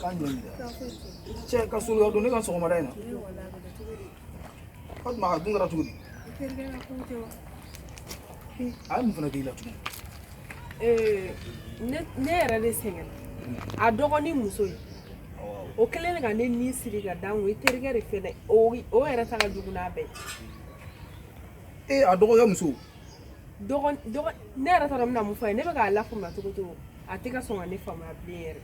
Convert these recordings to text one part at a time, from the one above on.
K'a ɲɛ cɛ ka so don ne kan sɔgɔmada in na ka tuma a dun kɛra cogo di a ye mun fana k'i la tugun ne yɛrɛ de sɛgɛnna dɔgɔnin muso ye o kelen de ka ne ni siri ka dan i terikɛ de fɛnɛ o yɛrɛ ta ka jugu n'a bɛɛ ee a dɔgɔkɛ muso ne yɛrɛ taara min na mun fɔ ye ne bɛ k'a lafaamuya cogo cogo a tɛ ka sɔn ka ne faamuya bilen yɛrɛ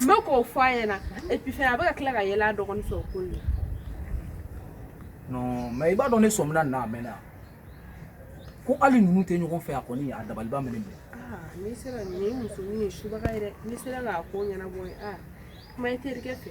n bɛ k'o fɔ a ɲɛna et puis fɛnɛ a bɛ ka tila ka yɛlɛ a dɔgɔnin fɛ o ko in na non mais i b'a dɔn ne sɔmina nin na a mɛnna ko hali ninnu tɛ ɲɔgɔn fɛ a kɔni a dabaliba minɛ minɛ ah, n'i sera nin musonin ye subaga ye dɛ n'i sera k'a ko ɲɛnabɔ ye a ah, kuma i terikɛ fɛ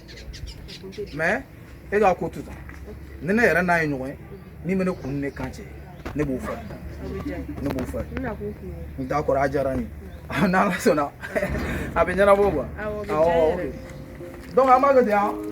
mais e k'a ko to tan ni ne yɛrɛ n'a ye ɲɔgɔn ye min bɛ ne kun ne kan cɛ ne b'o fɔ ne b'o fɔ n t'a kɔrɔ a diyara n ye n'ala sɔnna a bɛ ɲɛnabɔ quoi awɔ donc an b'a kɛ ten an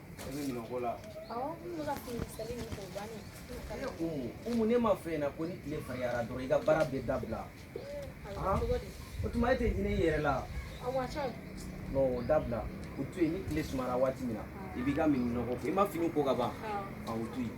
umu ne m'a f'i ɲɛna ko ni tile farinyara dɔrɔn i ka baara bɛ dabila o tuma e tɛ hinɛ i yɛrɛ la non o dabila o to yen ni tile sumara waati min na i b'i ka minɛnw ko i ma fini ko ka ban o to yen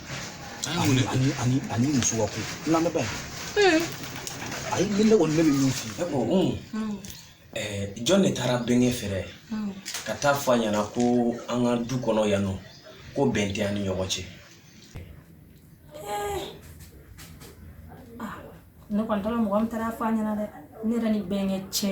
a ni muso ka ko n lamɛn ba ye ayi ne kɔni ne bɛ min f'i ye o jɔn de taara bɛnkɛ fɛ yɛrɛ ka taa fɔ a ɲɛna ko an ka du kɔnɔ yan nɔ ko bɛn tɛ an ni ɲɔgɔn cɛ ne kɔni t'a dɔn mɔgɔ min taara fɔ a ɲɛna dɛ ne yɛrɛ ni bɛnkɛ cɛ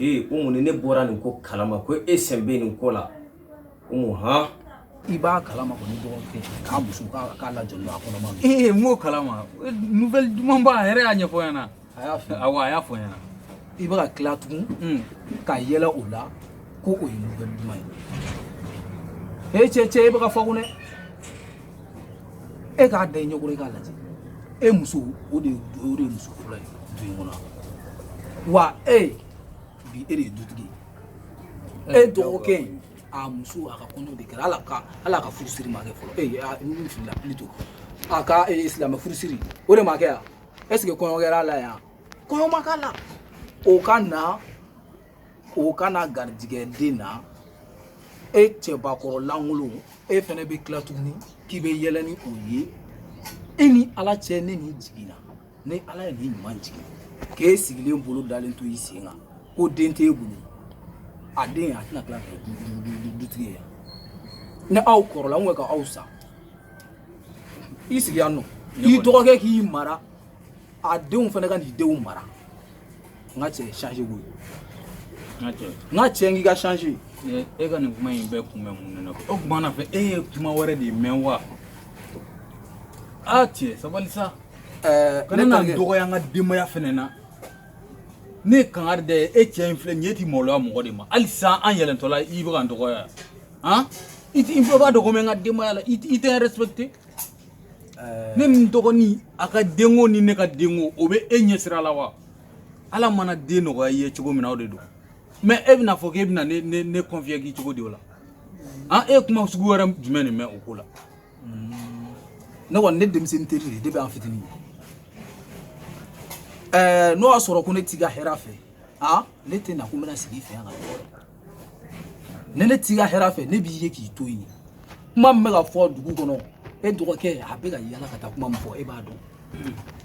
ee umu ne bɔra nin ko kalama ko e sen bɛ nin ko la umu han i b'a kalama ko ne dɔgɔkɛ k'a muso k'a lajɔlen a kɔnɔma ee n b'o kalama nouvelle duman ba a yɛrɛ y'a ɲɛfɔ n ɲɛna a y'a fɔ awɔ a y'a fɔ n ɲɛna i bɛ ka tila tugun hmm. ka yɛlɛ o la ko o ye nouvelle duman ye ee cɛ cɛ i bɛ k'a fɔ ko ne e k'a da i ɲɛkɔrɔ i k'a lajɛ e muso o de o de ye muso fɔlɔ ye du in kɔnɔ wa e bi e de ye dutigi ye e dɔgɔkɛ in a muso a ka kɔɲɔ de kɛra a la a ka furusiri ma kɛ fɔlɔ ee a n filila plutôt a ka ee silamɛ furusiri o de ma kɛ yan est ce que kɔɲɔ kɛra a la yan kɔɲɔ ma k'a la o ka na o kana garijɛgɛ den na e cɛbakɔrɔ lankolon e fɛnɛ bɛ tila tuguni k'i bɛ yɛlɛ ni o ye e ni ala cɛ ne ni jiginna ni ala ye nin ɲuman jigin k'e sigilen bolo dalen to i sen kan ko den t'e bolo a den a tɛna tila ka dutigi ye ni aw kɔrɔla n ko ka aw sa i sigi yan nɔ i dɔgɔkɛ k'i mara a denw fana ka n'i denw mara n ka cɛ changer koyi n ka cɛ n k'i ka change e ka nin kuma in bɛɛ kun bɛ mun ne na o kuma na fɛ e ye kuma wɛrɛ de mɛn wa a cɛ sabali sa kana na dɔgɔya an ka denbaya fɛnɛ na ne ye kangari da i ye e cɛ in filɛ nin ye e ti maloya mɔgɔ de ma hali sisan an yɛlɛntɔla i bɛ ka n dɔgɔya han i bɛɛ b'a dɔn ko n bɛ n ka denbaya la i tɛ n respecter ne ni n dɔgɔnin a ka denko ni ne ka denko o bɛ e ɲɛ sira la wa ala mana den nɔgɔya i ye cogo min na o de don mais e bɛna fɔ k'e bɛna ne ne ne convaincre cogo di o la an e kuma sugu wɛrɛ jumɛn de mɛn o ko la ne kɔni ne denmisɛnnin teri de ye depuis an fitinin ɛɛ n'o y'a sɔrɔ ko ne t'i ka hɛrɛ fɛ a ne tɛ na ko n bɛna sigi i fɛ yan ka ni ne t'i ka hɛrɛ fɛ ne b'i ye k'i to yen kuma min bɛ ka fɔ dugu kɔnɔ e dɔgɔkɛ a bɛ ka yala ka taa kuma min fɔ e b'a dɔn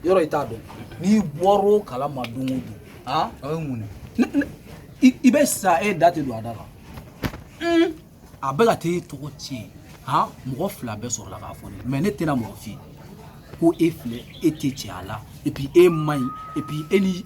yɔrɔ i t'a dɔn n'i bɔra o kalama don o don aa o ye mun ye i bɛ sa e da tɛ don a da la a bɛ ka taa e tɔgɔ tiɲɛ han mɔgɔ fila bɛɛ sɔrɔla k'a fɔ ne mais ne tɛna mɔgɔ f'i ye ko e filɛ e tɛ cɛya la et puis e man ɲi et puis e ni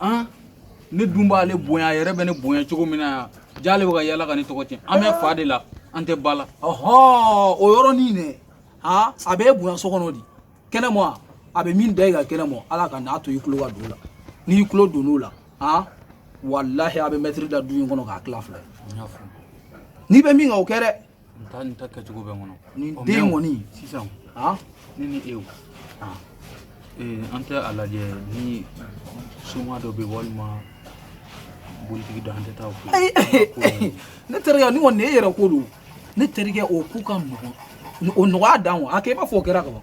an ne dun b'ale bonya a yɛrɛ bɛ ne bonya cogo min na yan j'ale bɛ ka yala ka ne tɔgɔ tiɲɛ an bɛ fa de la an tɛ ba la ɔhɔn o yɔrɔnin dɛ ha a bɛ e bonya so kɔnɔ di kɛnɛma a bɛ min da i kan kɛnɛma ala kan'a to i tulo ka don o la n'i tulo donn'o la ha walahi a bɛ mɛtiri da du in kɔnɔ k'a tila fila ye n'i bɛ min kan o kɛ dɛ n taa n ta kɛcogo bɛ n kɔnɔ nin Ɔ, den mɛ- kɔni sisan han ne ni e o Ah. ee, an tɛ a lajɛ ni soma dɔ bɛ walima bolitigi dɔ an tɛ taa o fɛ yen. ne terikɛ ni kɔni nin ye e yɛrɛ ko don ne terikɛ o ko ka nɔgɔn o nɔgɔya dan wa a kɛ i b'a fɔ o kɛra ka ban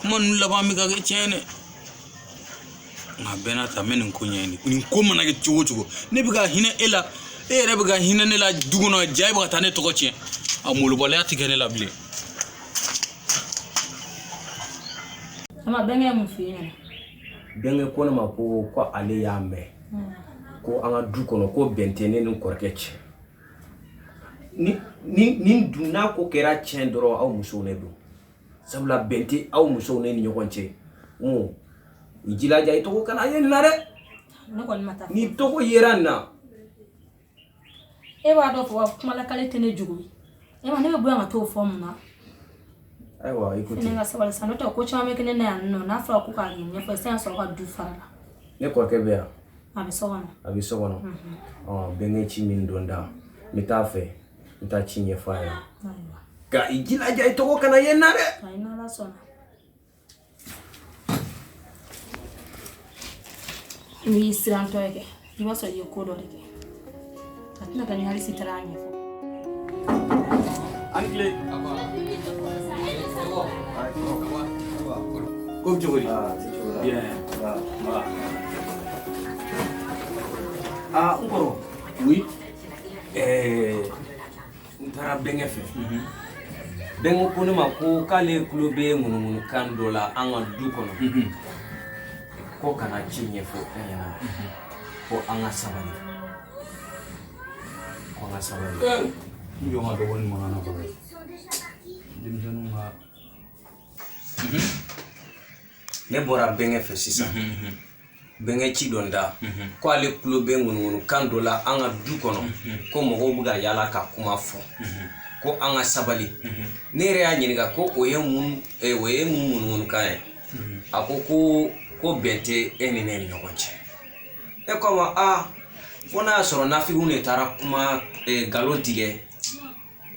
kuma ninnu laban bɛ ka kɛ tiɲɛ ye dɛ nka bɛɛ n'a ta n bɛ nin ko ɲɛɲini nin ko mana kɛ cogo o cogo ne bɛ ka hinɛ e la e yɛrɛ bɛ ka hinɛ ne la du kɔnɔ ja e bɛ ka taa ne tɔgɔ tiɲɛ a malobaliya tɛ kɛ ne la bilen. Ama bɛnkɛ ye mun f'i ɲɛna? Bɛnkɛ ko ne ma ko ko ale y'a mɛn hmm. ko an ka du kɔnɔ ko bɛn tɛ ne ni kɔrɔkɛ cɛ ni ni ni dun n'a ko kɛra tiɲɛ dɔrɔn aw musow ne don sabula bɛn tɛ aw musow ne ni ɲɔgɔn cɛ n i jilaja i tɔgɔ kana ye nin na dɛ n'i tɔgɔ yera nin na e b'a dɔn fɔ kumalakali tɛ ne jogo ye ma ne bɛ bɔ yan ka t'o fɔ mun na ayiwa i ko ten ne ka sabali sa n'o tɛ ko caman bɛ kɛ ne na yan nɔ n'a fɔra ko k'a ɲɛ ɲɛfɔ sisan y'a sɔrɔ ka du fara la ne kɔrɔkɛ bɛ yan a bɛ so kɔnɔ a bɛ so kɔnɔ bɛnkɛ ci min don n da n bɛ taa fɛ n taa ci ɲɛfɔ a ɲɛna nka i jilaja i tɔgɔ kana ye n na dɛ n'i y'i sirantɔ ye kɛ i b'a sɔrɔ i ye ko dɔ de kɛ a tɛ ne kan hali si taara a ɲɛfɔ aw ni tile ko cogo di aa n kɔrɔ oui ɛɛ n taara bɛnkɛ fɛ bɛnkɛ ko ne ma ko k'ale tulo bɛ ŋunuŋunukan dɔ la an ka du kɔnɔ ko ka na ci ɲɛfɔ an ɲɛna ko an ka sabali ko an ka sabali n jɔ n ka dɔgɔnin mankan na kɔrɔ denmisɛnninw ka ne bɔra bɛnkɛ fɛ sisan bɛnkɛ ci don n da ko ale tulo bɛ ŋunuŋunukan dɔ la an ka du kɔnɔ ko mɔgɔw bɛ ka yaala ka kuma fɔ ko an ka sabali ne yɛrɛ y'a ɲininka ko o ye mun eh, o ye mun ŋunuŋunukan ye a ko ko ko bɛn tɛ e ni ne ni ɲɔgɔn cɛ ne ko a ma a fo n'a y'a sɔrɔ nafigiw de taara kuma eh, nkalon tigɛ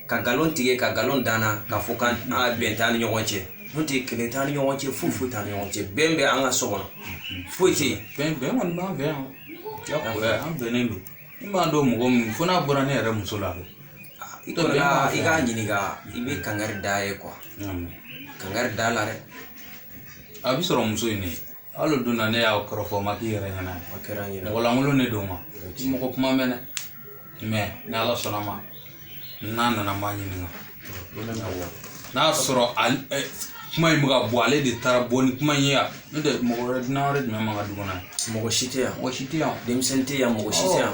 ka nkalon tigɛ ka nkalon da an na k'a fɔ k'an bɛn t'an ni ɲɔgɔn cɛ n'o tɛ kɛlɛ t'an ni ɲɔgɔn cɛ foyi foyi t'an ni ɲɔgɔn cɛ bɛn bɛ an ka so kɔnɔ foyi tɛ yen bɛn bɛn kɔni b'an fɛ yan jagoya an bɛnnen don n m'a dɔn mɔgɔ min fo n'a bɔra ne yɛrɛ muso la i kɔni ka i k'a ɲininka i bɛ kangari d'a ye kuwa kangari d'a la dɛ a b'a sɔrɔ muso in de hali o don na ne y'a kɔrɔfɔ ma k'i yɛrɛ ɲɛna a kɛra n yɛrɛ mɔgɔlankolon de don a ma mɔgɔ kuma mɛn dɛ mɛ ni ala sɔnna ma n'a nana n b'a ɲininka n'a y'a sɔrɔ kuma in bɛ ka bɔ ale de taara bɔ ni kuma in ye yan n'o tɛ mɔgɔ wɛrɛ dunan wɛrɛ jumɛn b'an ka du kɔnɔ yan mɔgɔ si tɛ yan mɔgɔ si tɛ yan denmisɛnnin tɛ yan mɔgɔ si tɛ yan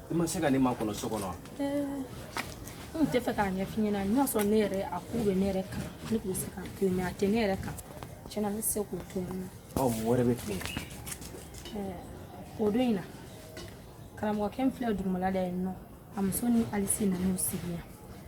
i ma se ka ne makɔnɔ so kɔnɔ wa n tɛ fɛ k'a ɲɛf'i ɲɛna n'a y'a sɔrɔ ne yɛrɛ a ko bɛ ne yɛrɛ kan ne tun bɛ se k'a to yen mɛ a tɛ ne yɛrɛ kan tiɲɛ na ne tɛ se k'o to yen ɔ mɔgɔ wɛrɛ bɛ tile o don in na karamɔgɔkɛ min filɛ dugumala la yen nɔ a muso ni alise nan'u sigi yan